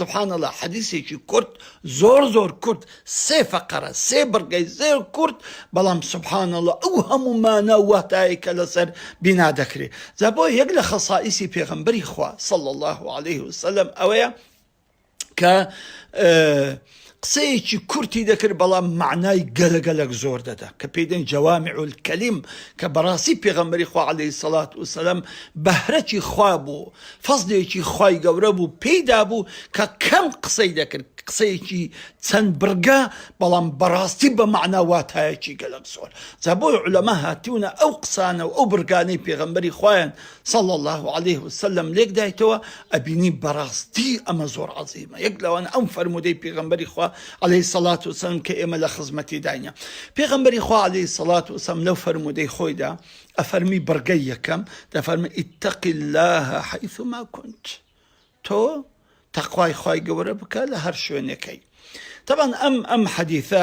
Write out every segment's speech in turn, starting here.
سبحان اللە حەدیسێکی کورت زۆر زۆر کورت سێ فەقەرە سێ بڕگەی زۆر کورت بەڵام سبحان اللە ئەو هەموو مانا و واتایەی کە لەسەر بینا دەکرێ جا بۆ یەک لە خەسائیسی پێغەمبەری خوا صلی اللە علیه وسلم ئەوەیە کە قسەیەکی کورتی دەکرد بەڵام مەعنای گەلەگەلەک زۆر دەدا کە پێی دەن جوامع الکلم کە بەڕاستی پێغەمبەری خوا علیە سەڵات وسلام بەهرەتی خوا بوو فەزلێکی خوای گەورە بوو پێی دابوو کە کەم قسەی دەکرد قسەیەکی چەند بڕگە بەڵام بەڕاستی بە معنا واتایەکی گەلک زۆر جا بۆی علەما هاتیونە ئەو قسانە و ئەو بڕگانەی پێغەمبەری خوایان صلی اللە علیە وسلم لێک دایتەوە ئەبینی بەڕاستی ئەمە زۆر عظیمە یەک لەوان ئەم فەرمودەی پێغمبەری خوا عليه سەلات وسلم کە ئێمە لە خزمەتی داینە پێغمبەری خوا عليه سەلات وسم لەو فەرمودەی خۆیدا ئەفەرمی بڕگەی یەکەم دەفەرمە ئیتەقی الله حیثما كنت تۆ تەخوای خی گەورە بکە لە هەر شوێنەکەی تەبان ئەم ئەم حەدیثە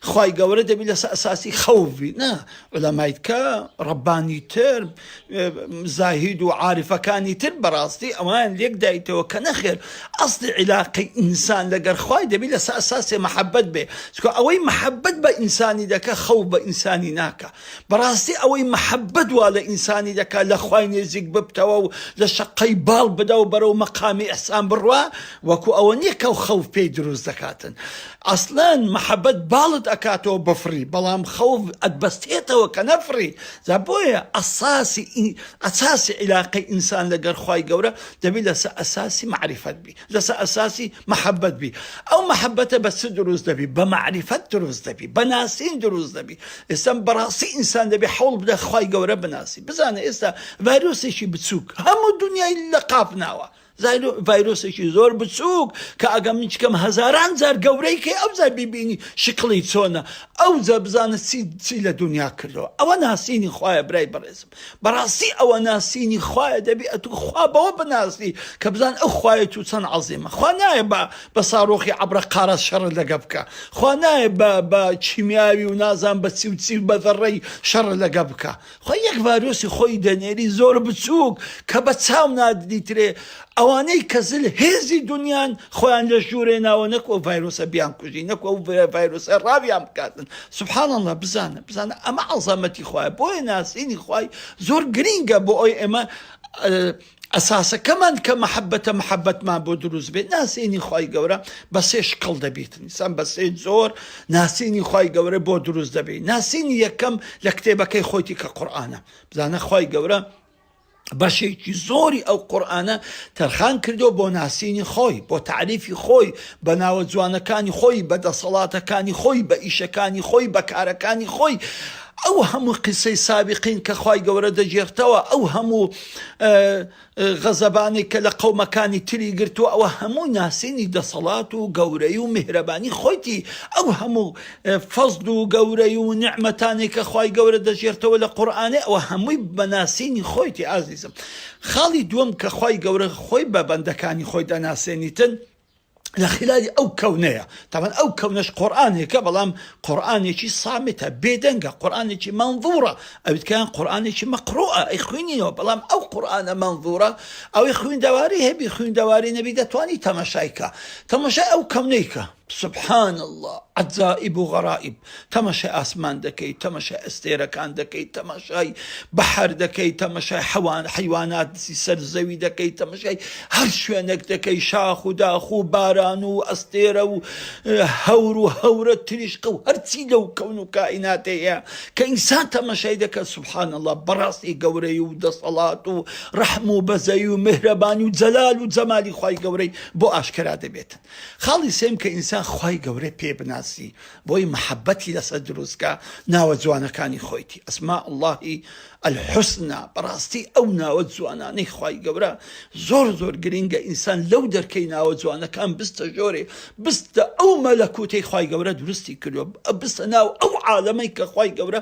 خوای گەورە دەبی لەسە ئەساسی خەوف بی نا علەمایتکە ڕەبانی تر زاهید و عاعرفەکانی تر بەڕاستی ئەوان لێک دایتەوە کە نەخێر ئەستی عیلاقی ئینسان لەگەر خوای دەبی لەسە ئەساسێ محەبەت بێ چکە ئەوەی محەبەت بە ئینسانی دەکە خەو بە ئینسانی ناکە بەڕاستی ئەوەی مەحەبەت وا لە ئینسانی دەکا لە خوای نێزیک ببتەوە و لە شەققەی باڵ بدا و بەرەو مەقامی ئیحسان بڕوا وەکو ئەوە نیە کەو خەوف پێی دروست دەکاتن ئەسڵەن مەحەبەت باڵت ئەکاتەوە بفڕی بەڵام خەوف ئەتبەستێتەوە کە نەفڕی جا بۆیە ئەساسی ئەساسی عیلاقەی ئینسان لەگەر خوای گەورە دەبی لەسە ئەساسی مەعریفەت بی لەسەر ئەساسی مەحەبەت بی ئەو مەحەبەتە بە چ دروست دەبی بە مەعریفەت دروست دەبی بە ناسین دروست دەبی ئێستا بەڕاستی ئینسان دەبێ حەوڵ بدە خوای گەورە بناسی بزانە ئێستا ڤایرۆسێکی بچووک هەموو دنیای لە قاپ ناوە زایرو ڤایرۆسێکی زۆر بچووک کە ئەگەم من چکەم هەزاران جار گەورەی کەی ئەو جار بیبینی شکڵی چۆنە ئەو جا بزانە چی چی لە دنیا کردەوە ئەوە ناسینی خوایە برای بەڕێزم بەڕاستی ئەوە ناسینی خوایە دەبی ئەتوو خوا بەوە بناسی کە بزان ئەو خوای توو چەن عەزیمە خوا نایە بە بە ساڕۆخی عەبرە قارە شەڕت لەگە بکە خوا نایە بە بە کیمیاوی و نازان بە چی و چی و بە زەڕەی شەڕت لەگە بکە خوا یەک ڤایرۆسی خۆی دەنێری زۆر بچووک کە بە چاو ناددیترێ ئەوانەی کە زل هێزی دونیان خۆیان لە ژورێ ناوە نەک ئەو ڤایرۆسە بیان کوژی نەک ئەو ڤایرۆسە ڕاویان بکاتن سبحان اللە بزانە بزانە ئەمە عەزەمەتی خوایە بۆیە ناسینی خوای زۆر گرینگە بۆ ئەوی ئێمە ئەساسەکەمان کە محەبەتە محەبەتمان بۆ دروست بێت ناسینی خی گەورە بە سێ شکڵ دەبیت نیسان بە سێ زۆر ناسینی خی گەورە بۆ دروست دەبێت ناسینی یەکەم لە کتێبەکەی خۆیتی کە قورآانە بزانە خی گەورە بەشێکی زۆری ئەو قورئانە تەرخان کردووە بۆ ناسینی خۆی، بۆ تەعریفی خۆی، بە ناوە جوانەکانی خۆی، بە دەسەڵاتەکانی خۆی، بە ئیشەکانی خۆی، بە کارەکانی خۆی، ئەو هەموو قیسەی سابیقین کە خوای گەورە دەگێڕتەوە، ئەو هەموو غەزەبانەی کە لە قەومەکانی تری گرتووە، ئەوە هەمووی ناسینی دەسەڵات و گەورەی و میهرەبانی خۆیتی، ئەو هەموو فەزڵ و گەورەی و نیعمەتانێ کە خوای گەورە دەژێرتەوە لە قورئانێ ئەوە هەمووی بە ناسینی خۆیتی ئازیزم خاڵی دووەم کە خوای گەورە خۆی بە بەندەکانی خۆی دەناسێنیتن لە خیلالی ئەو کەونەیە تەبەن ئەو کەونەش قورئانێکە بەڵام قورئانێکی سامتە بێدەنگە قورئانێکی مەنظورە ئەویت کەیان قورئانێکی مەقڕوئە ئەی خوینینەوە بەڵام ئەو قورئانە مەنظورە ئەوی خویندەواری هەبی خویندەواری نەبی دەتوانی تەماشای کا تەماشای ئەو کەونەی کە سبحان اللە عەجائب و غەرائب تەماشای ئاسمان دەکەی تەماشای ئەستێرەکان دەکەی تەماشای بەحر دەکەی تەماشای حەوان حەیواناتی سەر زەوی دەکەی تەماشای هەر شوێنێک دەکەی شاخ و داخ و باران و ئەستێرە و هەور و هەورە تریشقە و هەرچی لەو کەون و کائینات هەیە کە ئینسان تەماشای دەکات سبحان اللە بەڕاستی گەورەی و دەسەڵات و ڕەحم و بەزەی و میهرەبانی و جەلال و جەمالی خوای گەورەی بۆ ئاشکرا دەبێت. خاڵی سێم کە ئینسان خوای گەورەی پێ بناسی بۆی محەبەتی لەسەر دروستکە ناوە جوانەکانی خۆیتی ئەسما اللهی الحسنی بەڕاستی ئەو ناوە جوانانەی خوای گەورە زۆر زۆر گرینگە ئینسان لەو دەرکەی ناوە جوانەکان بستە ژۆرێ بستە ئەو مەلەکوتەی خوای گەورە دروستی کردووە بستە ناو ئەو عالەمەی کە خوای گەورە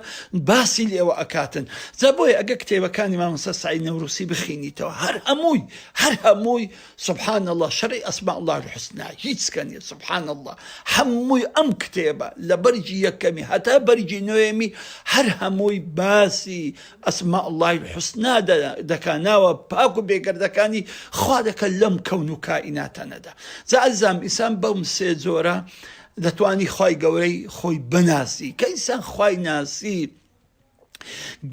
باسی لێوە ئەکاتن جا بۆیە ئەگە کتێبەکانی مامۆستا سعید نەوروسی بخینیتەوە هەر هەمووی هەر هەمووی سبحان اللە شەڕی اسماء اللە الحسنی هیچ سکە نیە سبحان اللە هەمووی ئەم کتێبە لە بەرگی یەکەمی هەتا بەرگی نۆیەمی هەر هەمووی باسی اسماء اللە الحسنی دەکا ناوە پاک و بێگەردەکانی خوا دەکا لەم کەون و کائیناتەنەدا جا ئەزام ئیسان بەم سێ جۆرە دەتوانی خوای گەورەی خۆی بناسی کە ئیسان خوای ناسی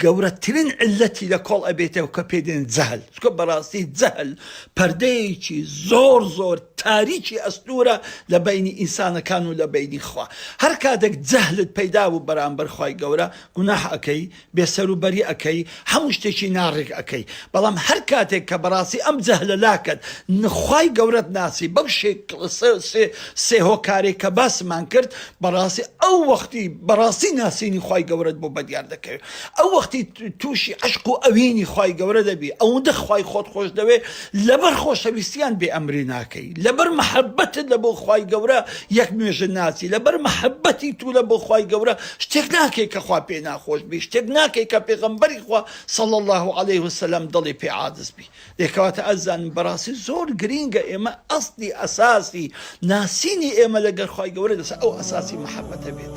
گەورەترین علەتی لە کۆڵ ئەبێتەوە کە پێ دێن جەهل چکە بەڕاستی جەهل پەردەیەکی زۆر زۆر تاریکی ئەستورە لە بینی ئینسانەکان و لە بینی خوا هەر کاتێک جەهلت پەیدا بوو بەرامبەر خوای گەورە گوناح ئەکەی بێسەروبەری ئەکەی هەموو شتێکی ناڕێک ئەکەی بەڵام هەر کاتێک کە بەڕاستی ئەم جەهلە لاکەت خوای گەورەت ناسی بەو شێ سێ هۆکارێک کە باسمان کرد بەڕاستی ئەو وەختی بەڕاستی ناسینی خوای گەورەت بۆ بەدیار دەکەوێ ئەو وەختی تووشی عشق و ئەوینی خوای گەورە دەبی ئەوەندە خوای خۆت خۆش دەوێ لەبەر خۆشەویستیان بێ ئەمری ناکەی لەبەر محەبەتت لە بۆ خوای گەورە یەک نوێژ ناچی لەبەر محەبەتی تو لە بۆ خوای گەورە شتێک ناکەی کە خوا پێ ناخۆش بی شتێک ناکەی کە پێغەمبەری خوا صلی اللە علیه وسلم دڵی پێ عاجز بی ئێ کەواتە ئەزانن بەڕاستی زۆر گرینگە ئێمە ئەسڵی ئەساسی ناسینی ئێمە لەگەر خوای گەورە لەسەر ئەو ئەساسی مەحەبەتە بێت.